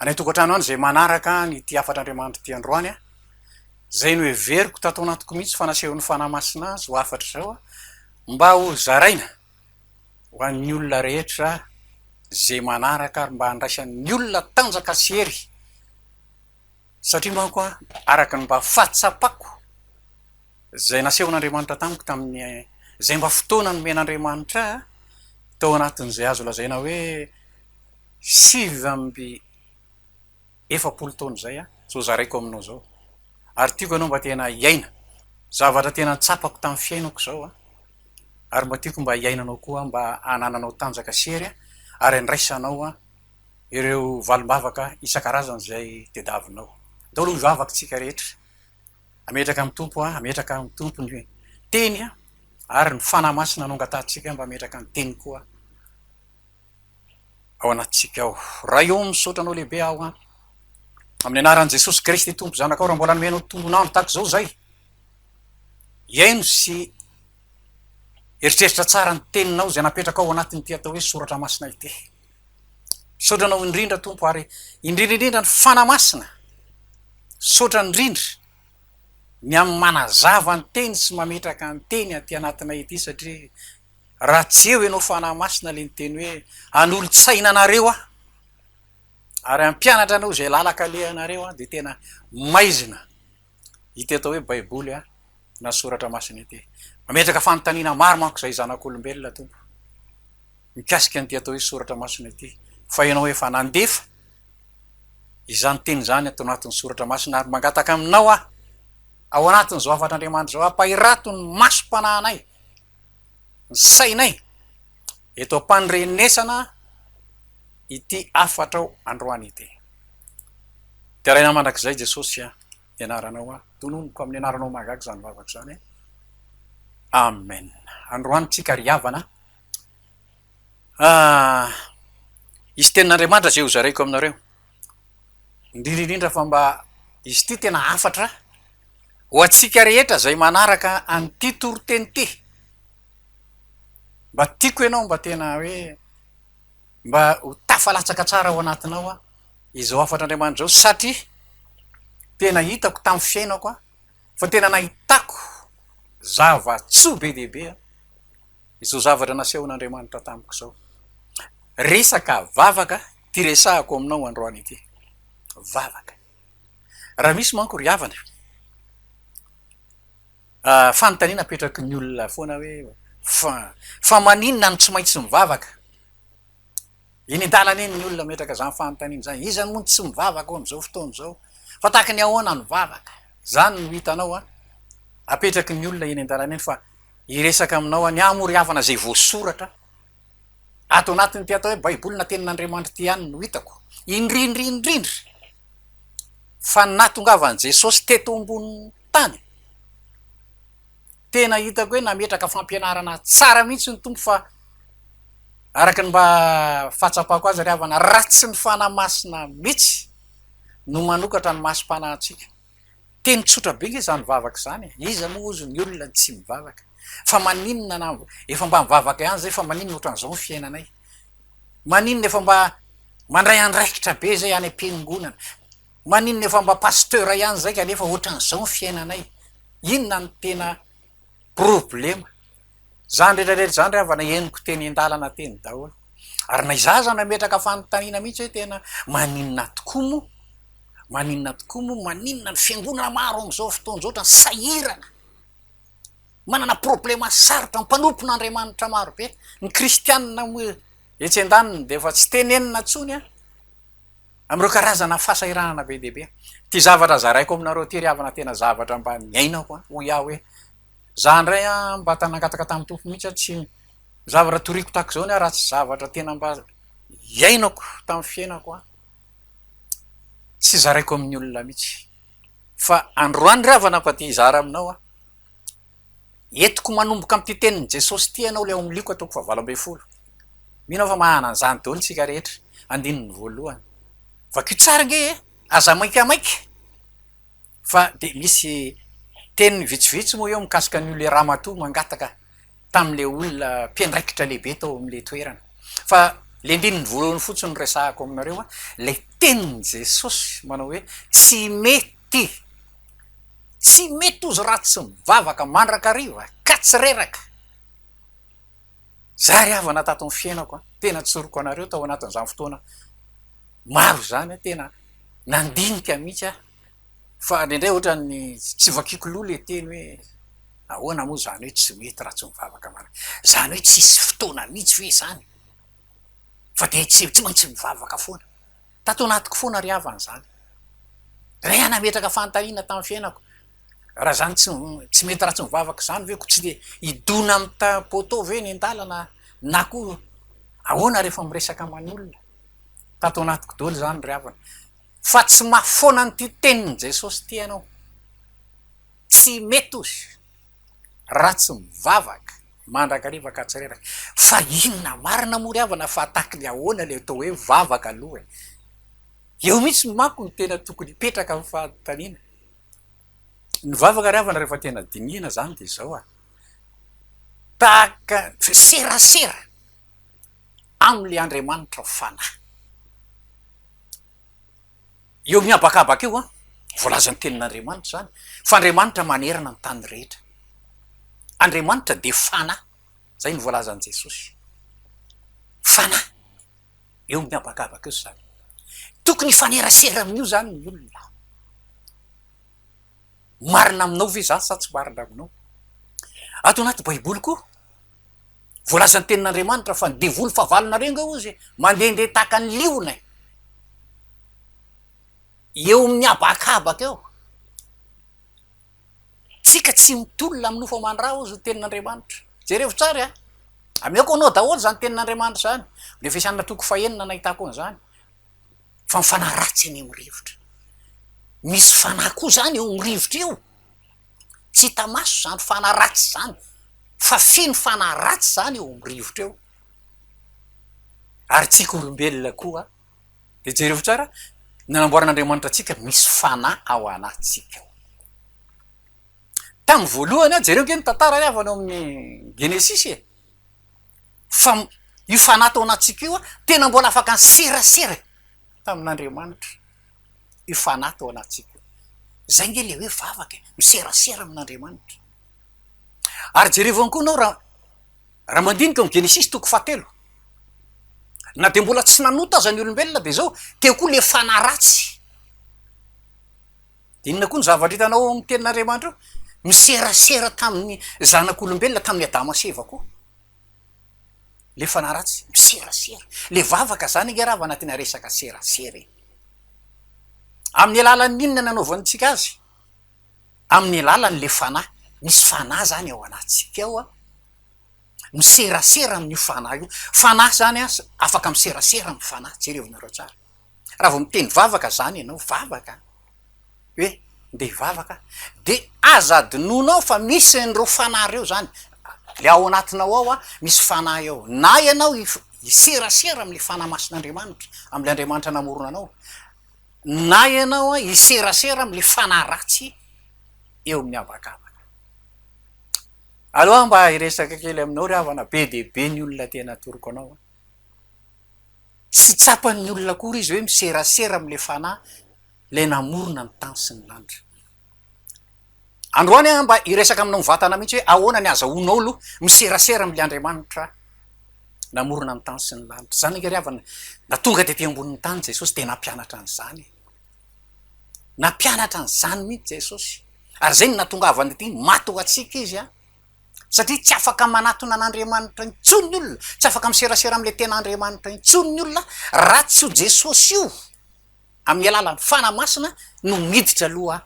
any an-tokantrano any izay manaraka an' ity hafatr'Andriamanitra ity androany an, izay noheveriko tato anatiko mihitsy fa nasehon'ny Fanahy Masina azy ho hafatra izao an, mba ho zaraina ho an'ny olona rehetra izay manaraka ary mba handraisan'ny olona tanjaka sy hery, satria manko an, araka ny mba fahatsapako izay nasehon'Andriamanitra tamiko tamin'ny izay mba fotoana nomen'Andriamanitra ahy tao anatin'izay azo lazaina hoe, sivy amby efapolo taona izay aho zao zaraiko aminao zao ary tiako ianao mba tena hiaina zavatra tena tsapako tamin'ny fiainako izao an! ary mba tiako mba hiainanao koa mba hanananao tanjaka sy hery ary handraisanao an! ireo valim-bavaka isan-karazany izay tediavinao daholo ny vavaktsika rehetra ametraka amin'ny Tompo an! ametraka amin'ny Tompo ny teny an! ary ny Fanahy Masina no angatahantsika mba ametraka ny teniny koa. ao anatintsika ao. Ray o, misaotra Anao lehibe aho an. Amin'ny anaran'i Jesosy Kristy Tompo Zanakao raha mbola nomenao tombon'andro tahaka izao izay. Hihaino sy eritreritra tsara ny teninao izay napetrakao ao anatin'ity atao hoe soratra masina ity. Misaotra Anao indrindra Tompo ary indrindra indrindra ny Fana Masina. Misaotra indrindra ny amin'ny manazava ny teny sy mametraka ny teny aty anatinay ity satria Raha tsy eo ianao Fanahy Masina ilay niteny hoe hanolo-tsaina anareo aho ary hampianatra anareo izay lalaka alehanareo aho dia tena maizina ity atao hoe baiboly aho na soratra masina ity. Mametraka fanontaniana maro manko izay zanak'olombelona tompo mikasika an'ity atao hoe soratra masina ity fa ianao efa nandefa izany teny izany ato anatin'ny soratra masina ary mangataka aminao aho ao anatin'izao hafatr'Andriamanitra izao ampahirato ny masom-panahinay ny sainay eto am-pandrenesana ity hafatrao androany ity. Deraina mandrakizay Jesosy a, ny anaranao a, tononiko amin'ny anaranao mahagaga izany vavako izany a. Amen. Androany tsika ry havana a, hisy tenin'Andriamanitra izay hozaraiko aminareo. indrindra indrindra fa mba izy ity tena hafatra ho antsika rehetra izay manaraka an'ity toriteny ity, mba tiako ianao mba tena hoe mba ho tafalatsaka tsara ao anatinao an, izao hafatr'Andriamanitra izao satria tena hitako tamin'ny fiainako an, fa tena nahitako zava-tsoa be dia be an, izao zavatra nasehon'Andriamanitra tamiko izao, resaka vavaka an. Ity resahako aminao androany ity. Vavaka. Raha misy manko ry havana, fanontaniana apetraky ny olona foana hoe fa fa maninona no tsy maintsy mivavaka? Eny an-dalana eny ny olona mametraka izany fanontaniana izany. Iza moa no tsy mivavaka ao amin'izao fotoana izao? Fa tahaka ny ahoana ny vavaka? Izany no hitanao an, apetraky ny olona eny an-dalana eny fa hiresaka aminao an, ny ahy moa ry havana izay voasoratra, Ato anatin'ity atao hoe Baiboly na Tenin'Andriamanitra ity ihany no hitako, indrindra indrindra, fa ny nahatongavan'i Jesosy teto ambonin'ny tany, tena hitako hoe nametraka fampianarana tsara mihitsy ny Tompo fa araka ny mba fahatsapako azy ry havana, raha tsy ny Fanahy Masina mihitsy no manokatra ny masom-panahy antsika. Teny tsotra be nge izany vavaka izany e! Iza moa ozy ny olona tsy mivavaka? Fa maninona na efa mba mivavaka ihany izay fa maninona ohatran'izao ny fiainanay? Maninona efa mba mandray andraikitra be izay any am-piangonana? Maninona efa mba pasteur ihany izay kanefa ohatran'izao ny fiainanay? Inona no tena problema zany retraretra zany rehava na henoko teny indalana teny daholo ary na izaho aza nametraka fanontaniana mihitsy hoe tena maninona tokoa moa maninona tokoa moa maninona ny fiangonana maro am'izao fotoana izao otrany sahirana manana problema sarotra ny mpanompon'andriamanitra maro be ny kristianina moa etsy an-daniny dia efa tsy tenenina ntsony an amin'ireo karazana fahasahiranana be dia be. Ity zavatra zaraiko aminareo ity ry havana tena zavatra mba niainako an, hoy aho hoe izaho indray an mba nangataka tamin'ny Tompo mihitsy aho tsy zavatra toriako tahaka izao ny ahy raha tsy zavatra tena mba hiainako tamin'ny fiainako an, tsy zaraiko amin'ny olona mihitsy fa androany ry havana mba te hizara aminao aho. Entiko manomboka amin'ity tenin'i Jesosy ity ianao ilay ao amin'ny Lioka toko fahavalo ambin'ny folo. Mino aho fa mahana an'izany daholo isika rehetra, andininy voalohany. Vakio tsara ange e! Aza maikamaika! Fa dia misy teny vitsivitsy moa eo mikasika an'io ilay ramatoa mangataka tamin'ilay olona mpiandraikitra lehibe tao amin'ilay toerana. Fa ilay andininy voalohany fotsiny no resahako aminareo, ilay tenin'i Jesosy manao hoe, Tsy mety. Ty. Tsy mety ozy raha tsy mivavaka mandrakariva ka tsy reraka. Zary havana tato ny fiainako an, tena tsoriko anareo tao anatin'izany fotoana maro izany an, tena nandinika mihitsy aho fa indraindray ohatran'ny tsy vakiko loha le teny hoe ahoana moa izany hoe tsy mety raha tsy mivavaka mandrakariva, izany hoe tsisy fotoana mihitsy ve izany fa dia tsy maintsy mivavaka foana. Tato anatiko foana ry havana izany. Iray hanametraka fanontaniana tamin'ny fiainako, raha izany tsy tsy mety raha tsy mivavaka izany ve koa tsy dia hidona amin'ny ta- poteau ve eny an-dalana na koa ahoana rehefa miresaka aman'ny olona? Tato anatiko daholo izany ry havana. Fa tsy mahafoana an'ity tenin'i Jesosy ity ianao. Tsy mety hozy. raha tsy mivavaka mandrakariva ka tsy reraka. Fa inona marina moa ry havana fa tahaky ny ahoana ilay atao hoe vavaka aloha e? Eo mihitsy manko no tena tokony hipetraka ny fanontaniana. Ny vavaka ry havana rehefa tena dinihina izany dia izao an, tahaka serasera amin'ilay Andriamanitra fanahy. Eo amin'ny habakabaka io an, voalaza ny tenin'Andriamanitra izany fa Andriamanitra manerana ny tany rehetra. Andriamanitra dia Fanahy, izay no voalazan'i Jesosy. Fanahy. Eo amin'ny habakabaka io izany. Tokony hifanerasera amin'io izany ny olona. Marina aminao ve izany sa tsy marina aminao? Ato anaty Baiboly koa, Voalazan'ny tenin'Andriamanitra fa ny devoly fahavalonareo nga ozy e, mandehandeha tahaka ny liona e, eo amin'ny habakabaka eo. Tsika tsy mitolona amin'ny nofo aman-dra ozy ny tenin'Andriamanitra. Jerevo tsara e, ameko ho anao daholo izany tenin'Andriamanitra izany. Ny Efesianina toko fahenina nahitako an'izany. Fa mifanahy ratsy anie amin'ny rivotra. Misy fanahy koa izany eo amin'ny rivotra eo. tsy hita maso zany fanahy ratsy zany fa feno fanahy ratsy zany eo amin'ny rivotra eo ary tsika olombelona koa de jereo tsara nanamboaran'Andriamanitra antsika misy fanahy ao anatintsika ao tamin'ny voalohany aho jereo nge ny tantara re avy any amin'ny genesisy e fa io fanahy tao anatintsika io a tena mbola afaka ny serasera e tamin'Andriamanitra io fanahy tao anatintsika io. Izay ange ilay hoe vavaka e, miserasera amin'Andriamanitra. Ary jerevo ihany koa ianao raha raha mandinika ny Genesisy toko fahatelo, na dia mbola tsy nanota aza ny olombelona dia izao, teo koa ilay fanahy ratsy. Dia inona koa ny zavatra hitanao ao amin'ny Tenin'Andriamanitra ao? Miserasera tamin'ny zanak'olombelona, tamin'i Adama sy Eva koa. le fanahy ratsy miserasera le vavaka zany nge raha vao anatina resaka serasera e! amin'ny alalan'ny inona nanaovantsika azy? amin'ny alalan'le fanahy, misy fanahy zany ao anatintsika ao an! miserasera amin'io fanahy io, fanahy zany an afaka miserasera amin'ny fanahy, jerevo nareo tsara, raha vao miteny vavaka zany ianao, vavaka an! hoe ndeha hivavaka de aza adinonao fa misy an'ireo fanahy ireo zany le ao anatinao ao misy fanahy ao na ianao hiserasera amin'ny fanahy masin'Andriamanitra amin'ilay Andriamanitra namorona anao na ianao an hiserasera amin'ny fanahy ratsy eo amin'ny habakabaka aleo aho mba hiresaka kely aminao ry havana be dia be ny olona te hanatoroko anao an. Tsy tsapan'ny olona akory izy hoe miserasera amin'ilay Fanahy, ilay namorona ny tany sy ny lanitra. Androany aho mba hiresaka aminao mivantana mihitsy hoe ahoana ny azahoanao aloha miserasera amin'ilay Andriamanitra namorona ny tany sy ny lanitra. Izany anie ry havana, na tonga dia aty ambonin'ny tany Jesosy dia nampianatra an'izany e. Nampianatra an'izany mihitsy Jesosy. Ary izay no nahatongavany aty maty ho antsika izy an. satria tsy afaka manatona an'Andriamanitra intsony ny olona, tsy afaka miserasera amin'ilay tena Andriamanitra intsony ny olona raha tsy io Jesosy io amin'ny alalan'ny Fanahy Masina no miditra aloha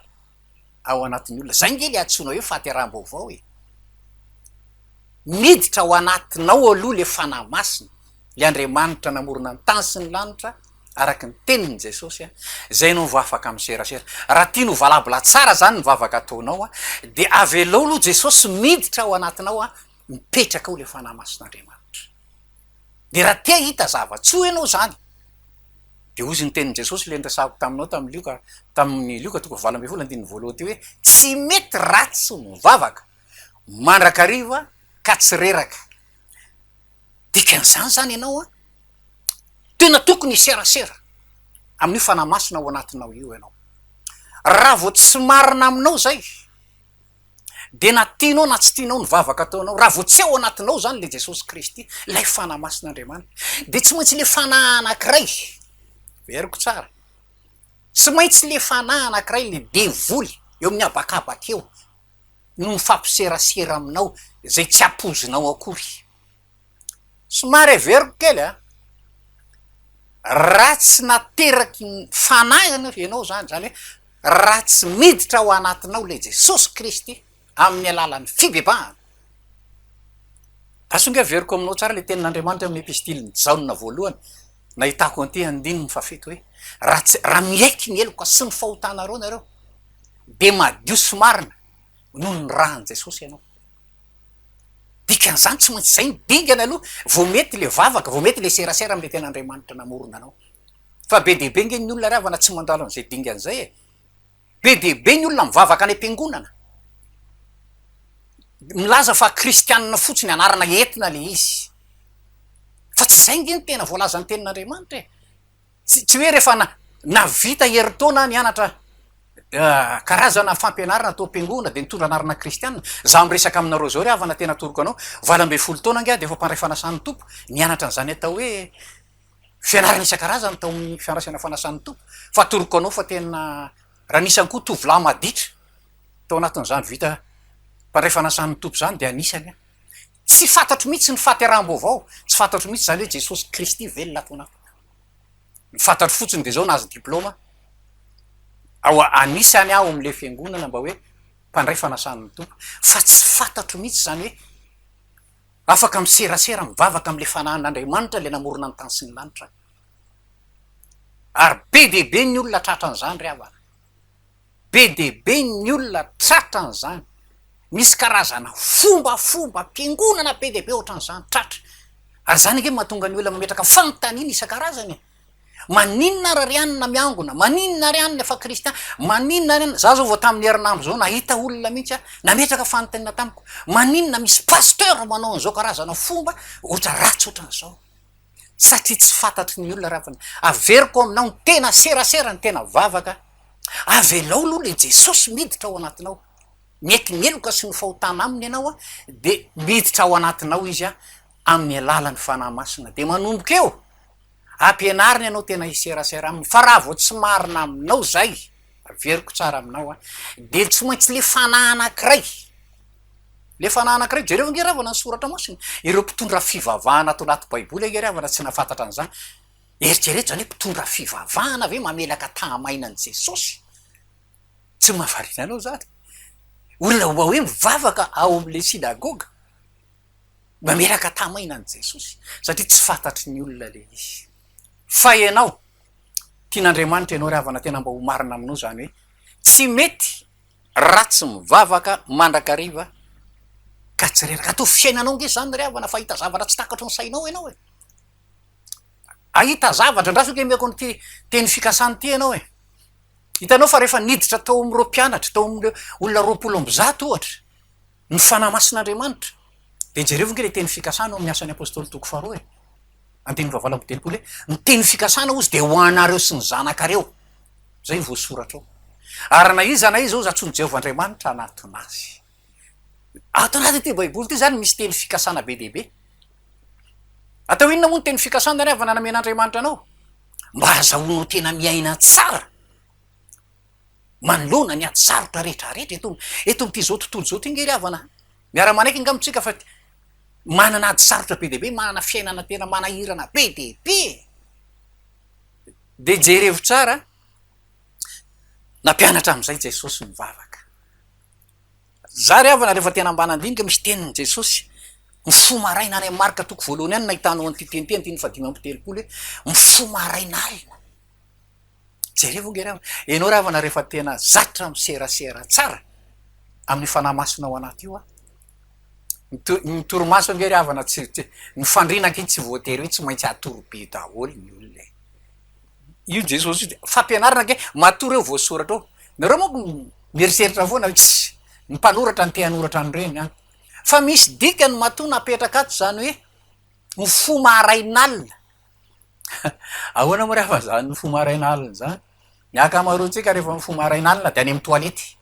ao anatin'ny olona. Izay ange ilay antsoina hoe fahateraham-baovao e! Miditra ao anatinao aloha ilay Fanahy Masina, ilay Andriamanitra namorona ny tany sy ny lanitra, araka ny tenin'i Jesosy a, zay no vao afaka miserasera. Raha tianao ho valabla tsara zany ny vavaka ataonao a, dia avelao aloha Jesosy miditra ao anatinao a, mipetraka ao le Fanahy Masin'Andriamanitra. Dia raha te hahita zava-tsoa ianao zany, dia hozy ny tenin'i Jesosy le niresahako taminao tamin'i Lioka, tamin'ny Lioka toko valo ambin'ny folo andininy voalohany teo hoe, tsy mety raha tsy mivavaka mandrakariva ka tsy reraka. dikan'izany zany ianao an, tena tokony hiserasera amin'io fanahy masina ao anatinao io ianao, raha vao tsy marina aminao zay dia na tianao na tsy tianao ny vavaka ataonao, raha vao tsy ao anatinao zany le Jesosy Kristy, lay fanahy masin'Andriamanitra, dia tsy maintsy le fanahy anakiray, heveriko tsara, tsy maintsy le fanahy anakiray le devoly eo amin'ny habakabaka eo, no mifampiserasera aminao izay tsy ampoizinao akory. Somary averiko kely an! Raha tsy nateraky ny Fanahy ianao izany, izany hoe raha tsy miditra ao anatinao ilay Jesosy Kristy amin'ny alalan'ny fibebahana, asio nga averiko aminao tsara ilay tenin'Andriamanitra amin'ny Epistiliny Jaona voalohany nahitako an'ity andininy fahafito hoe, raha tsy, raha miaiky ny heloka sy ny fahotanareo nareo, dia madio sy marina noho ny ran'i Jesosy ianao. Dikan'izany tsy maintsy izay no dingana aloha vao mety ilay vavaka, vao mety ilay serasera amin'ilay tena Andriamanitra namorona anao. Fa be dia be ange ny olona ry havana tsy mandalo an'izay dingana izay e! Be dia be ny olona mivavaka any am-piangonana, milaza fa kristianina fotsiny, anarana entina ilay izy, fa tsy izay ange ny tena voalazan'ny Tenin'Andriamanitra e! Tsy tsy hoe rehefa na navita herintaona nianatra karazana fampianarana tao am-piangonana dia nitondra anarana kristiana. Izaho miresaka aminareo izao ry havana tena atoroko anao, valo ambin'ny folo taona angaha dia efa mpandray fanasan'ny Tompo, nianatra an'izany atao hoe fianarana isan-karazany tao amin'ny fiandrasana fanasan'ny Tompo. Fa atoroko anao fa tena, raha nisy ihany koa tovolahy maditra tao anatin'izany vita mpandray fanasan'ny Tompo izany dia anisany aho. Tsy fantatro mihitsy ny fahateraham-baovao, tsy fantatro mihitsy izany hoe Jesosy Kristy ve ny latonako. Ny fantatro fotsiny dia izao, nahazo diplaoma ao anisany aho amin'ilay fiangonana mba hoe mpandray fanasan'ny Tompo, fa tsy fantatro mihitsy izany hoe afaka miserasera mivavaka amin'ilay Fanahin'Andriamanitra ilay namorona ny tany sy ny lanitra aho. Ary be dia be ny olona tratran'izany ry havana. be dia be ny olona tratra an'izany, misy karazana fombafomba fiangonana be dia be ohatran'izany tratra, ary izany ange mahatonga ny olona mametraka fanontaniana isan-karazany e! maninona ary ry anona miangona, maninona ry anona efa kristiana, maninona ry anona, za zao vao tamin'ny herinandro zao nahita olona mihitsy aho nametraka fanontaniana tamiko, maninona misy pasteur manao an'izao karazana fomba ohatran'ny ratsy ohatran'izao. satria tsy fantatry ny olona ravana. Averiko aminao ny tena serasera, ny tena vavaka, avelao aloha ilay Jesosy miditra ao anatinao. Mieky ny heloka sy ny fahotana aminy ianao dia miditra ao anatinao izy amin'ny alalan'ny Fanahy Masina dia manomboka eo ampianariny anao tena hiserasera aminy fa raha vao tsy marina aminao izay, averiko tsara aminao dia tsy maintsy ilay fanahy anankiray Le fanahy anankiray, jereo ange ravana ny soratra masina, ireo mpitondra fivavahana ato anaty baiboly ange ravana tsy nahafantatra an'izany, eritrereto zany hoe mpitondra fivavahana ve mamelaka tahamaina an'i Jesosy? Tsy mahavariana anao zany? Olona mba hoe mivavaka ao amle synagoga mamelaka tahamaina an'i Jesosy satria tsy fantatry ny olona le izy. Fa ianao, tian'Andriamanitra ianao ravana tena mba ho marina aminao zany hoe tsy mety Ratsy mivavaka mandrakariva ka tsy reraka ato fiainanao nge zany ry havana fa ahita zavatra tsy takatry ny sainao enao e ahita zavatra ndraso nge meko an'ity teny fikasana ity enao e hitanao fa rehefa niditra tao am'ireo mpianatra tao am'ireo olona roapolo amby zato ohatra Ny Fanahy Masin'Andriamanitra. Dia jereo ve ilay teny fikasana ao amin'ny Asan'ny Apostoly toko faharoa e. Andininy fahavalo amby telopolo e. Ny teny fikasana hozy dia ho anareo sy ny zanakareo. Izay voasoratra ao. Ary na iza na iza hozy antsoin'i Jehovah Andriamanitra hanatona azy. Ato anatin'ity Baiboly ity izany misy teny fikasana be dia be. Atao inona moa ny teny fikasana rehefa namen'Andriamanitra anao? Mba hahazahoanao tena miaina tsara. manoloana ny ady sarotra rehetra rehetra eto eto amin'ity izao tontolo izao ity nge ry havana a! miara-manaiky angamba isika fa manana ady sarotra be dia be, manana fiainana tena manahirana be dia be e! dia jerevo tsara nampianatra amin'izay Jesosy mivavaka, za ry havana rehefa tena ambany andinika misy tenin'i Jesosy mifoha maraina any amin'ny Marka toko voalohany any no nahitanao an'ity teny ity andininy fahadimy amby telopolo hoe mifoha maraina alina Jereo ange raha, ianao rahavana rehefa tena zatra miserasera tsara amin'ny Fanahy Masina ao anaty io an. Ny torimaso ange ry havana tsy, ny fandriana ange tsy voatery hoe tsy maintsy hatory be daholo ny olona e. Io Jesosy io, fampianarana ange, matory eo voasoratra eo. Nareo manko mieritreritra foana hoe tssy, ny mpanoratra no te hanoratra an'ireny an. Fa misy dikany matoa napetraka ato izany hoe ny fo maharain'alina. Ahoana moa rehefa zany mifoha maraina alina zany? Ny ankamaroantsika rehefa mifoha maraina alina dia any amin'ny toalety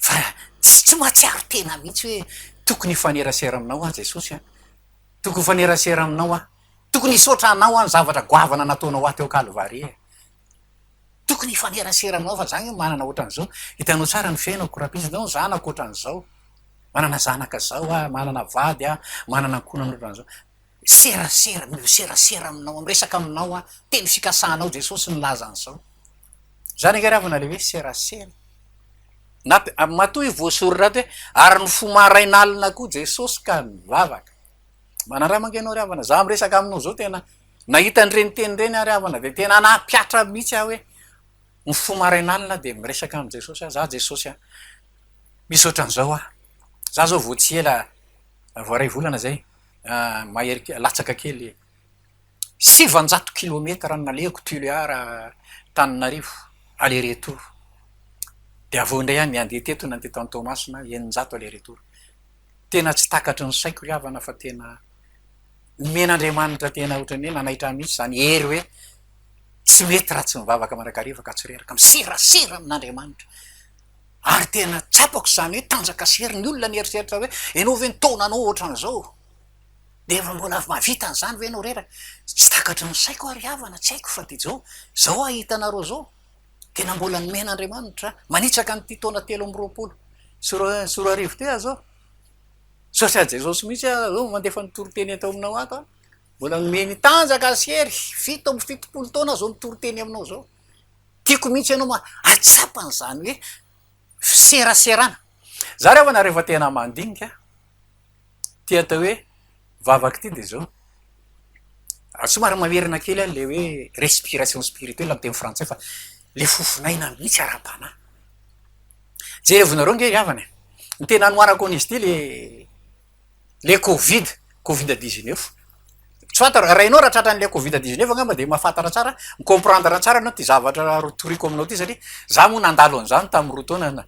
fa tsy mahatsiaro tena mihitsy hoe tokony hifanerasera aminao aho Jesosy an, tokony hifanerasera aminao aho, tokony hisaotra anao aho ny zavatra goavana nataonao ahy teo Kalvary e, tokony hifanerasera aminao fa za nge manana ohatran'izao, hitanao tsara ny fiainako rapitso, hitanao ny zanako ohatran'izao, manana zanaka zao aho, manana vady aho, manana ankohonana ohatran'izao. Serasera, mino serasera aminao, miresaka aminao aho, teny fikasanao Jesosy nilaza an'izao. Izany ange ravana ilay hoe serasera. Na matoa io voasoratra ato hoe ary ny fo marain'alina koa Jesosy ka nivavaka. Manandrama ange ianao ry havana, izaho miresaka aminao izao tena nahita an'ireny teny ireny aho ry havana dia tena nampihatra mihitsy aho hoe ny fo marain'alina dia miresaka amin'i Jesosy aho, izaho Jesosy a, misy ohatran'izao aho, izaho izao vao tsy ela, vao iray volana izay. mahery kely, latsaka kely e. Sivanjato kilometatra no nalehako Tulear Antananarivo aller retour, dia avy eo indray aho ny handeha teto nandeha tany Toamasina eninjato aller retour. Tena tsy takatry ny saiko ry havana fa tena nomen'Andriamanitra tena ohatran'ny hoe nanaitra ahy mihitsy izany hery hoe tsy mety raha tsy mivavaka mandrakariva ka tsy reraka, miserasera amin'Andriamanitra. Ary tena tsapako izany hoe tanjaka sy hery ny olona ny eritreritra hoe ianao ve ny taonanao ohatran'izao dia efa mbola mahavita an'izany ve ianao reraka? Tsy takatry ny saiko aho ry havana, tsy haiko fa dia izao aho hahita anareo izao. Tena mbola nomen'Andriamanitra manitsaka an'ity taona telo amby roapolo sy roa arivo ity aho izao. Misaotra an'i Jesosy mihitsy aho izao mandefa ny toriteny eto aminao ato aho. Mbola nomeny tanjaka sy hery, fito amby fitopolo taona izao ny toriteny aminao izao. Tiako mihitsy ianao ma hahatsapa an'izany hoe fiseraserana. Za re hono rehefa tena mandinika ity atao hoe vavaka ity dia izao, somary mamerina kely aho ilay hoe respiration spirituelle amin'ny teny frantsay fa ilay fofon'aina mihitsy ara-panahy. Jerevo nareo ange ry havana e! Ny tena anohanako an'izy ity ilay. le covid covid dix neuf tsy fantaro raha ianao raha tratran'ny le covid dix neuf angamba dia mahafantatra tsara mi comprendre tsara ianao ity zavatra ro toriko aminao ity satria za moa nandalo an'izany tamin'ny roa taona na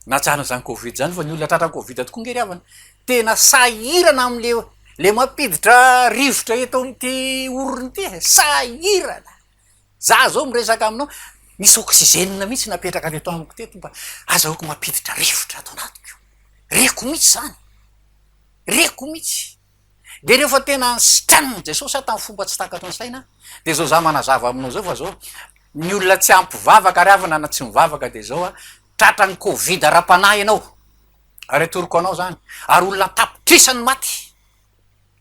najanona izany covid izany fa ny olona tratran'ny covid tokoa nge ry havana tena sahirana amle le mampiditra rivotra eto amin'ity orona ity e sahirana za zao miresaka aminao misy oxygène mihitsy napetraka avy eto amiko teto mba azahoako mampiditra rivotra ato anatiko reko mihitsy zany reko mihitsy de rehefa tena ny sitraniny jesosy aho tamin'ny fomba tsy takatry ny saina de zao za manazava aminao zao fa zao ny olona tsy ampivavaka ary avana na tsy mivavaka de zao a tratra ny covid ara-panahy ianao ary atoroko anao zany ary olona tapitrisany maty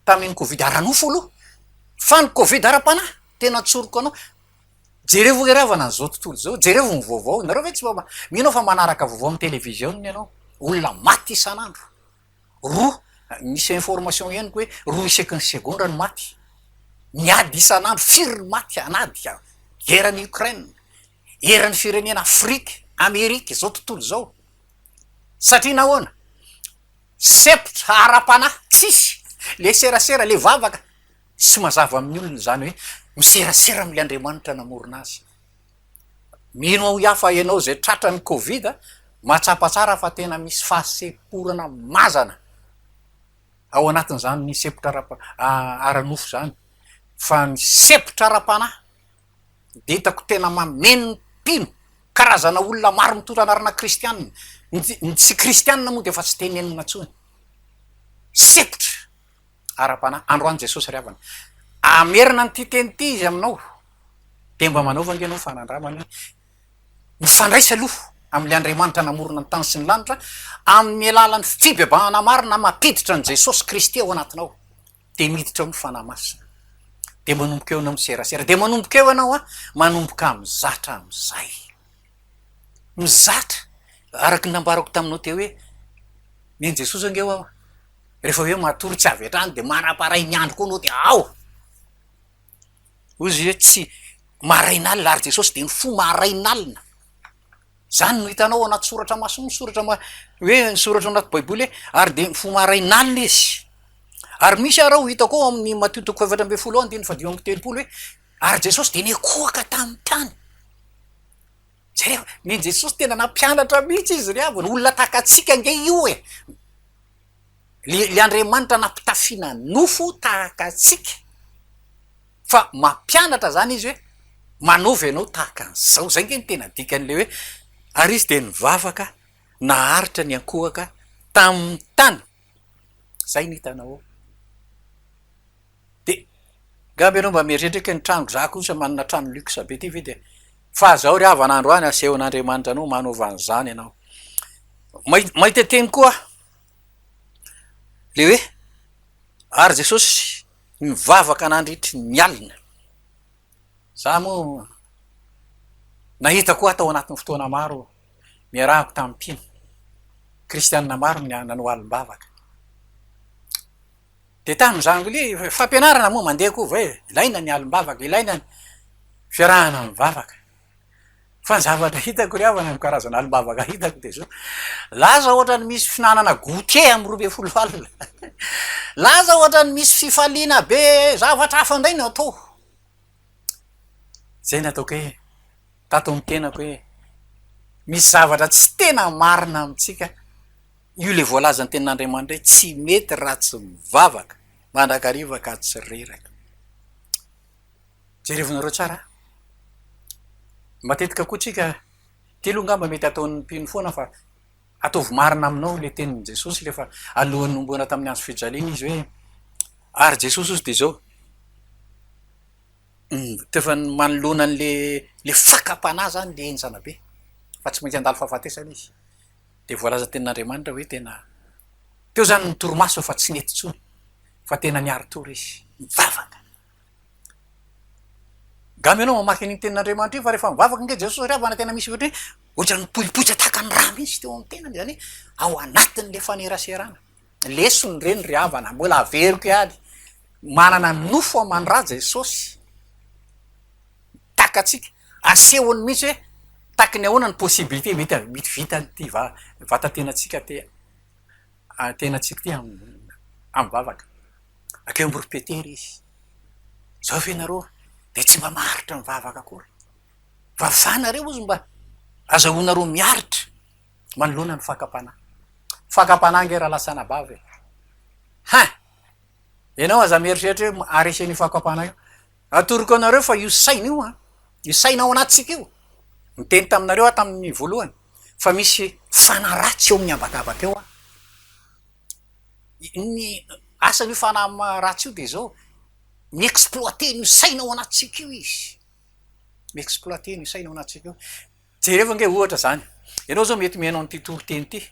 Tamin'ny covid ara-nofo aloha fa ny covid ara-panahy tena tsoriko anao. Jerevo ny ravana an'izao tontolo izao, jerevo ny vaovao, ianareo ve tsy mba mino fa manaraka vaovao amin'ny televiziona ianao? Olona maty isan'andro, roa, misy information henoko hoe roa isaky ny segondra ny maty, miady isan'andro, firy ny maty an'ady, eran'i Ukraine, eran'ny firenena Afrika, Amerika izao tontolo izao, satria nahoana? Sempotra ara-panahy tsisy le serasera le vavaka tsy mazava amin'ny olona izany hoe miserasera amle Andriamanitra namorona azy. Mino aho yah fa ianao izay tratra ny covid mahatsapa tsara fa tena misy fahasemporana mazana ao anatin'izany sempotra ara-nofo izany fa ny sempotra ara-panahy dia hitako tena mameno ny mpino, karazana olona maro mitondra anarana kristiana, ny tsy kristiana moa dia efa tsy dia nenina intsony, sepotra ara-panahy, androany Jesosy ry havana hamerina an'ity teny ity Izy aminao, dia mba manaova ange ianao fanandramana hoe, mifandraisa aloha amin'ilay Andriamanitra namorona ny tany sy ny lanitra amin'ny alalan'ny fibebahana marina mampiditra an'i Jesosy Kristy ao anatinao, dia miditra ao ny Fanahy Masina, dia manomboka eo ianao miserasera, dia manomboka eo ianao an, manomboka mizatra amin'izay, mizatra, araka ny nambarako taminao teo hoe, nen'i Jesosy ange ho'aho, rehefa hoe matory tsy avy hatrany dia manam-paharay ny andro koa anao dia ao, hoy izy hoe tsy, marain'alina, ary Jesosy dia ny fo marain'alina. Izany no hitanao ao anaty soratra masina, ny soratra ma- hoe ny soratra ao anaty Baiboly hoe ary dia mifoha marain'alina izy. Ary misy ary ao hitako ao amin'ny Matio toko fahefatra ambin'ny folo ao andininy fahadimy amby telopolo hoe ary Jesosy dia nikohaka tamin'ny tany. Zay rehefa ny Jesosy tena nampianatra mihitsy izy ry havana, olona tahaka antsika ange io e. Ly Andriamanitra nampitafiana nofo tahaka antsika. fa mampianatra zany izy hoe manaova ianao tahaka an'izao, zay nge ny tena dikan'ilay hoe ary izy dia nivavaka naharitra niankohoka tamin'ny tany, zay no hitanao ao, dia ngamba ianao mba mieritreritra ny tranoko, za kosa manana trano luxe be ty ve dia fa zao ry havana andro any asehon'Andriamanitra anao manaova an'izany ianao, mahita teny koa aho le hoe ary Jesosy. Nivavaka nandritry ny alina. Za moa nahita koa tao anatin'ny fotoana maro niarahako tamin'ny mpino kristianina maro ny nanao alim-bavaka. Dia tamin'izany koa ilay fampianarana moa mandeha koa hoe ilaina ny alim-bavaka, ilaina ny fiarahana mivavaka. Fa ny zavatra hitako ry havana, ny karazana alim-bavaka hitako dia izao, laza ohatra ny misy fihinanana goûter amin'ny roa ambin'ny folo alina, laza ohatra ny misy fifaliana be, zavatra hafa indray no atao. Izay no ataoko hoe, tato amin'ny tenako hoe, misy zavatra tsy tena marina amintsika, io ilay voalazan'ny tenin'Andriamanitra hoe tsy mety raha tsy mivavaka mandrakariva ka tsy reraka. Jerevinareo tsara a! Matetika koa tsika, telo angamba mety ataon'ny mpino foana fa ataovy marina aminao le tenin'i Jesosy le fa alohan'ny nomboana tamin'ny hazo fijaliana izy hoe, ary Jesosy ozy de zao, tefa manoloana an'le le fakam-panahy zany le enjana be fa tsy maintsy handalo fahafatesana izy, de voalazan'ny tenin'Andriamanitra hoe tena, teo zany ny torimaso fa tsy nety tsony fa tena niari-tory izy, nivavaka. Angamba ianao mamaky an'iny tenin'Andriamanitra iny fa rehefa mivavaka ange Jesosy satria havana tena misy ohatry ny hoe ohatry ny mipoipoitra tahaka ny rà mihitsy teo amin'ny tenany, izany hoe ao anatin'ilay faneraserana. Lesona ireny ry havana, mbola averiko ihany, manana nofo aman-drà Jesosy, mitaka antsika, asehony mihitsy hoe tahaka ny ahoana ny possibilité mety hahavita ny te- vatan-tenantsika te-. tena tsy tia amim-bavaka. Akeo Amborom-Petera izy. Izao ve ianareo dia tsy mba maharitra mivavaka akory? Vavaha nareo hozy mba azahoanareo miaritra manoloana ny fakam-panahy. Fakam-panahy ange raha lasa anabavy e! Hein! Ianao aza mieritreritra hoe haharesy an'io fakam-panahy io. Atoroko anareo fa io saina io an, io saina ao anatintsika io, niteny taminareo aho tamin'ny voalohany fa misy fanahy ratsy eo amin'ny habakabaka eo an, ny asan'io fanahy ratsy io dia izao, mi-exploiter an'io saina ao anatintsika io izy, mi-exploiter an'io saina ao anatintsika io. Jereo ange ohatra izany, ianao izao mety mihaino an'ity toriteny ity.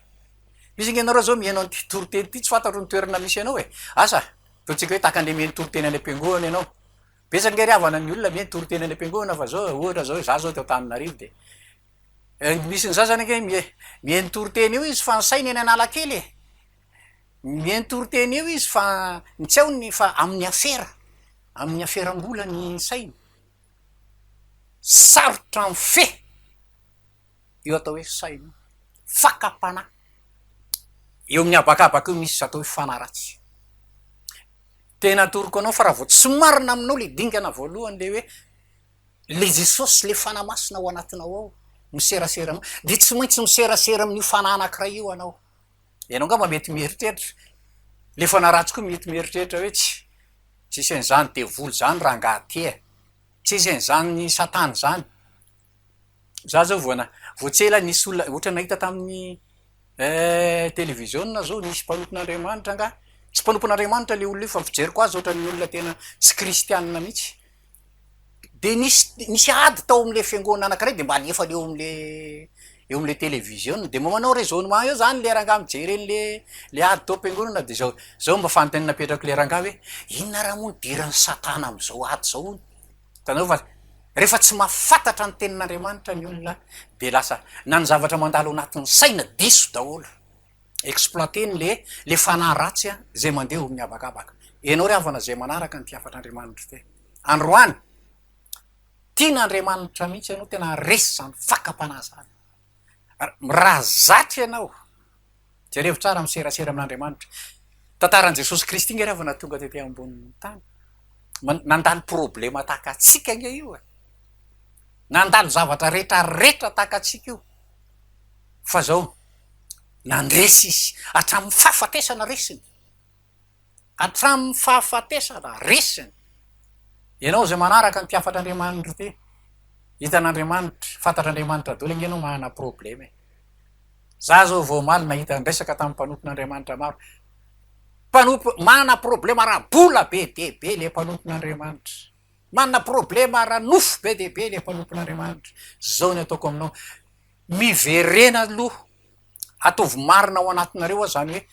Misy ange ianareo izao mihaino an'ity toriteny ity, tsy fantatro ny toerana misy anao e! Asa, ataontsika hoe tahaka ny mihaino toriteny any am-piangohana ianao. Betsaka ange ry havana ny olona mihaino toriteny any am-piangohana fa izao, ohatra izao, izaho izao eto Antananarivo dia misy ny sasany ange mie- mihaino toriteny io izy fa ny sainy eny Analakely e! Mihaino toriteny io izy fa ny tsy hainy fa amin'ny afera, amin'ny aferam-bola ny sainy. sarotra mifehy io atao hoe saina io, fakam-panahy eo amin'ny habakabaka eo misy atao hoe fanahy ratsy. Tena atoroko anao fa raha vao tsy marina aminao ilay dingana voalohany ilay hoe ilay Jesosy ilay fanahy masina ao anatinao ao miserasera aminao dia tsy maintsy miserasera amin'io fanahy anankiray io ianao. ianao angamba mety mieritreritra le fanaratsy koa mety mieritreritra hoe tsy tsy isan' izany devoly izany rangaha ty e tsy isan' izany satana izany za zao vao na- vao tsy ela nisy olona ohatra nahita tamin'ny televiziona zao nisy mpanompon' Andriamanitra angaha tsy mpanompon' Andriamanitra le olona io fa fijeriko azy ohatran'ny olona tena tsy kristianina mihitsy dia nisy nisy ady tao amle fiangonana anakiray de mba alefany eo amle eo amle television-ny de mba manao raisonnement eo zany le rangahy mijery anle le ady tao am-piangonana de zao zao mba fanontaniana apetrako le rangahy hoe inona raha moa no diran'i satana am'zao ady zao hono hitanao fa rehefa tsy mahafantatra ny tenin'Andriamanitra ny olona de lasa na ny zavatra mandalo anatin'ny saina diso daholo exploiter-ny le le fanahy ratsy a zay mandeha ho mihabakabaka. Enao ry havana zay manaraka ny mpihafatr' Andriamanitr te. Androany. Tina Andriamanitra mihitsy enao tena resy zany fakam-panahy zany. Ra zatra enao. Jerevo tsara miserasera amin' Andriamanitra. Tantaran' Jesosy Kristy nge ry havana tonga tety ambonin' ny tany. Nandalo problema tahaka antsika nge io e. Nandalo zavatra retra retra tahaka antsika io. fa zao nandresy izy hatramin'ny fahafatesana resiny hatramin'ny fahafatesana resiny ianao zay manaraka ny mpiafatra andriamanitra ty hitan'andriamanitra fantatra andriamanitra dolo ange anao mahana probleme e za zao vao omaly nahita nresaka tamin'ny mpanompon'andriamanitra maro mpanompo mahana problema raha bola be dia be le mpanompon'andriamanitra manana problema ara nofo be dia be ilay mpanompon'Andriamanitra, zao ny ataoko aminao, miverena aloha, ataovy marina ao anatinareo aho zany hoe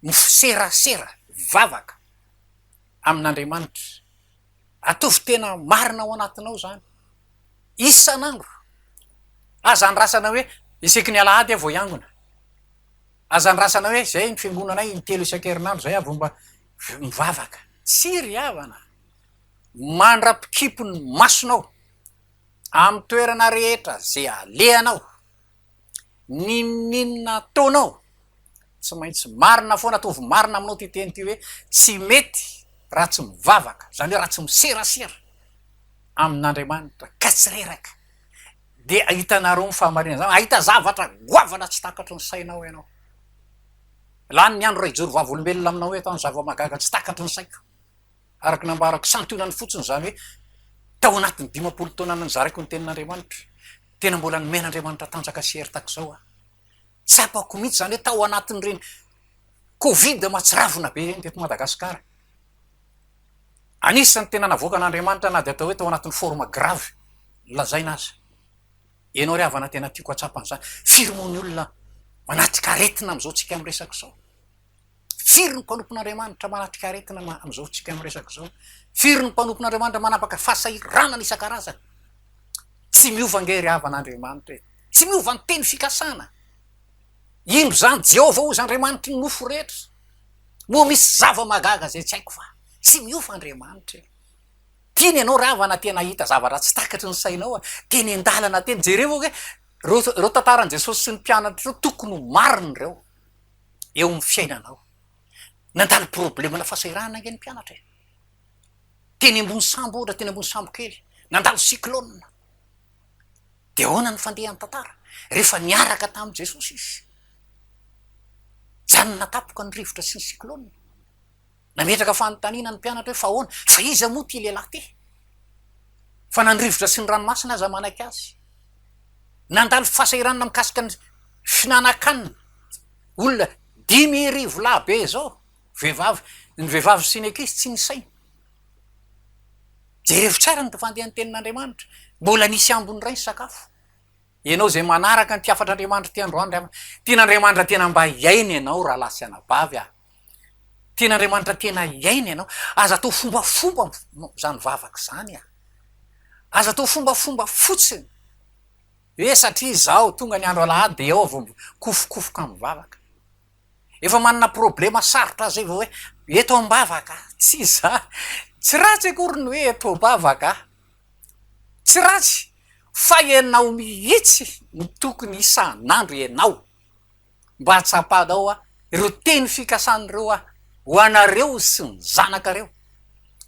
miserasera vavaka amin'Andriamanitra, ataovy tena marina ao anatinao zany isan'andro, aza andrasana hoe isaky ny alahady aho vao hiangona, aza andrasana hoe zay ny fiangonanay intelo isan-kerinandro zay aho vao mba mivavaka, tsy ry havana. mandra-pikipy ny masonao amin'ny toerana rehetra izay alehanao, n'inon'inona ataonao, tsy maintsy marina foana, ataovy marina aminao ity teny ity hoe, tsy mety raha tsy mivavaka, izany hoe raha tsy miserasera amin'Andriamanitra ka tsy reraka, dia hitanareo ny fahamarinana izany, hahita zavatra goavana tsy takatry ny sainao ianao. Lany ny andro raha hijoro vavolombelona aminao eto aho ny zava-mahagaga tsy takatry ny saiko. araka ny nambarako, santionany fotsiny izany hoe tao anatin'ny dimampolo taona nozaraiko ny Tenin'Andriamanitra, tena mbola nomena Andriamanitra tanjaka sy hery tahaka izao aho. Tsapako mihitsy izany hoe tao anatin'ireny Covid mahatsiravina be ireny teto Madagasikara, anisan'ny tena navoakan'Andriamanitra na dia atao hoe tao anatin'ny forme grave lazaina aza. Ianao ry havana tena tiako hahatsapa an'izany, firy moa ny olona manatrika aretina amin'izao tsika miresaka izao? Firy ny mpanompon'Andriamanitra manatrika aretina ma- amin'izao tsika miresaka izao? Firy ny mpanompon'Andriamanitra manapaka fahasahiranana isan-karazany? Tsy miova ange ry havan'Andriamanitra e! Tsy miova ny teny fikasana. Indro izany, Jehovah hozy Andriamanitry ny nofo rehetra. Moa misy zava-mahagaga izay tsy haiko va? Tsy miova Andriamanitra e! Tiany ianao ry havana tena hahita zavatra tsy takatry ny sainao a! Teny an-dalana teny, jereo ve ireo ireo tantaran'i Jesosy sy ny mpianatra ireo, tokony ho marina ireo. eo amin'ny fiainanao. Nandalo problemana fahasahiranana ange ny mpianatra e! Teny ambony sambo ohatra, teny ambony sambo kely, nandalo cyclone. Dia ahoana ny fandehan'ny tantara? Rehefa niaraka tamin'i Jesosy izy, janona tampoka ny rivotra sy ny cyclone. Nametraka fanontaniana ny mpianatra hoe fa ahoana? Fa iza moa ity lehilahy ity? Fa na ny rivotra sy ny ranomasina aza manaiky azy. Nandalo fahasahiranana mikasika ny fihinanankanina olona dimy arivo lahy be izao, vehivavy, ny vehivavy sy ny ankizy tsy nisaina. Jerevo tsara ny fandehan'ny tenin'Andriamanitra. Mbola nisy ambiny iray ny sakafo. Ianao izay manaraka ny mpihafatr'Andriamanitra ity androany, tian'Andriamanitra tena mba hiaina ianao rahalahy sy anabavy a! Tena Andriamanitra tena iaina ianao. Aza atao fombafomba izany vavaka izany a! Aza atao fombafomba fotsiny hoe satria izao tonga ny andro alahady dia ao vao mikofokofoka mivavaka. Efa manana problema sarotra izay vao hoe eto am-bavaka. Tsy izany. Tsy ratsy akory ny hoe eto am-bavaka. Tsy ratsy. Fa ianao mihitsy no tokony isan'andro ianao mba hatsapanao aho ireo teny fikasan'ireo ahy ho anareo sy ny zanakareo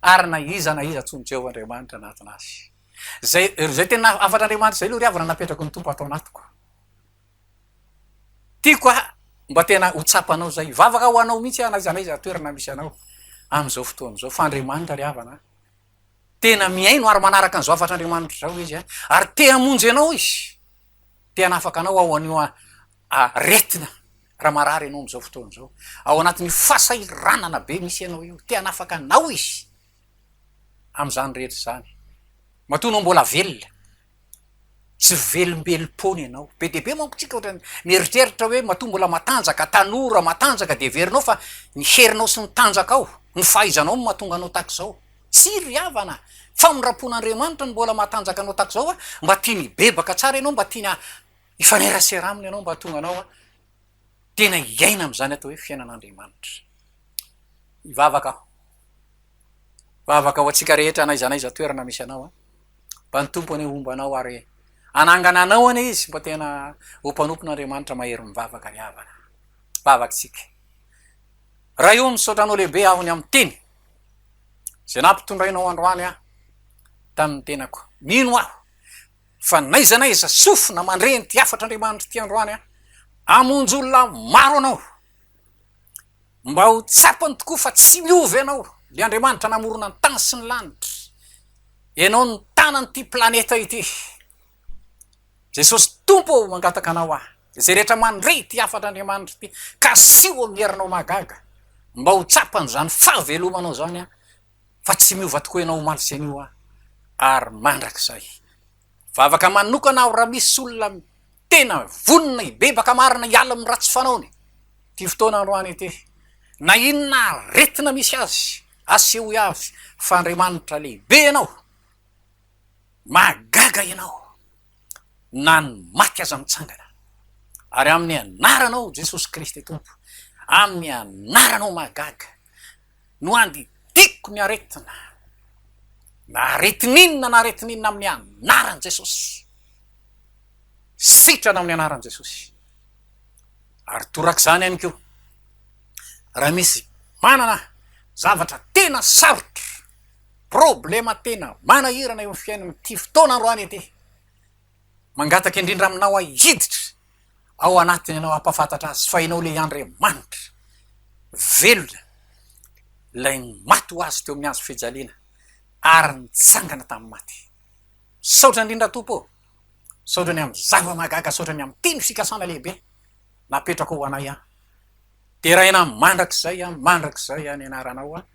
ary na iza na iza antsoin'i Jehovah Andriamanitra anatiny azy. Izay izay tena hafatr'Andriamanitra izay aloha ry havana napetraky ny Tompo ato anatiko. Tiako aho mba tena ho tsapanao izay. Hivavaka ho anao mihitsy aho na iza na iza toerana misy anao amin'izao fotoana izao fa Andriamanitra ry havana Tena mihaino ary manaraka ny zavatra Andriamanitra izao izy an! Ary te hamonjy anao izy. Te hanafaka anao ao an'io aretina raha marary ianao amin'izao fotoana izao. Ao anatin'io fasahiranana be misy anao io. Te hanafaka anao izy amin'izany rehetra izany. Matoa anao mbola velona. Tsy velombelom-poana ianao. Be dia be manko isika ohatran'ny mieritreritra hoe matoa mbola matanjaka, tanora, matanjaka dia heverinao fa ny herinao sy ny tanjakao, ny fahaizanao no mahatonga anao tahaka izao. Tsia ry havana, famindram-pon'Andriamanitra ny mbola mahatanjaka anao tahaka izao, mba tiany hibebaka tsara ianao, mba tiany hifanerasera aminy ianao mba hahatonga anao tena hiaina amin'izany atao hoe fiainan'Andriamanitra. Hivavaka aho. Vavaka ho antsika rehetra n'aiza n'aiza toerana misy anao an. Mba ny Tompo anie homba anao ary hanangana anao anie izy mba tena ho mpanompon'Andriamanitra mahery mivavaka ry havana. Vavakintsika. Ray o, misaotra anao lehibe aho ny amin'ny teny izay nampitondrainao androany aho tamin'ny tenako. Mino aho. fa n'aiza n'aiza sofina mandre an'ity hafatr'Andriamanitra ity androany aho, hamonjy olona maro anao, mba ho tsapany tokoa fa tsy miova ianao, ilay Andriamanitra namorona ny tany sy ny lanitra, ianao no tanan'ity planeta ity, Jesosy Tompo ô mangataka anao aho, izay rehetra mandre ity hafatr'Andriamanitra ity, kasiho amin'ny herinao mahagaga, mba ho tsapany izany fahavelomanao izany aho. fa tsy miova tokoa ianao omaly sy anio an! ary mandrakizay. Vavaka manokana aho raha misy olona tena vonona hibebaka marina hiala amin'ny ratsy fanaony ity fotoana androany ity. Na inona aretina misy azy, asehoy avy fa Andriamanitra lehibe ianao. Mahagaga ianao. Na ny maty aza mitsangana. Ary amin'ny anaranao Jesosy Kristy Tompo, amin'ny anaranao mahagaga, no andidiako ny aretina, na aretin'inona na aretin'inona amin'ny anaran'i Jesosy. Sitrana amin'ny anaran'i Jesosy. Ary torak'izany ihany koa, raha misy manana zavatra tena sarotra, problema tena manahirana eo amin'ny fiainany ity fotoana androany ity, mangataka indrindra aminao aho hiditra ao anatiny ianao hampafantatra azy fa ianao ilay Andriamanitra velona ilay maty ho azy teo amin'ny hazo fijaliana ary nitsangana tamin'ny maty. Saotra indrindra Tompo ô. Saotra ny amin'ny zava-mahagaga, saotra ny amin'ny teny fikasana lehibe napetrako ho anay aho. Deraina mandrakizay aho, mandrakizay aho ny anaranao aho.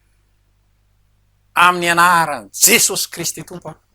Amin'ny anaran'i Jesosy Kristy Tompo aho.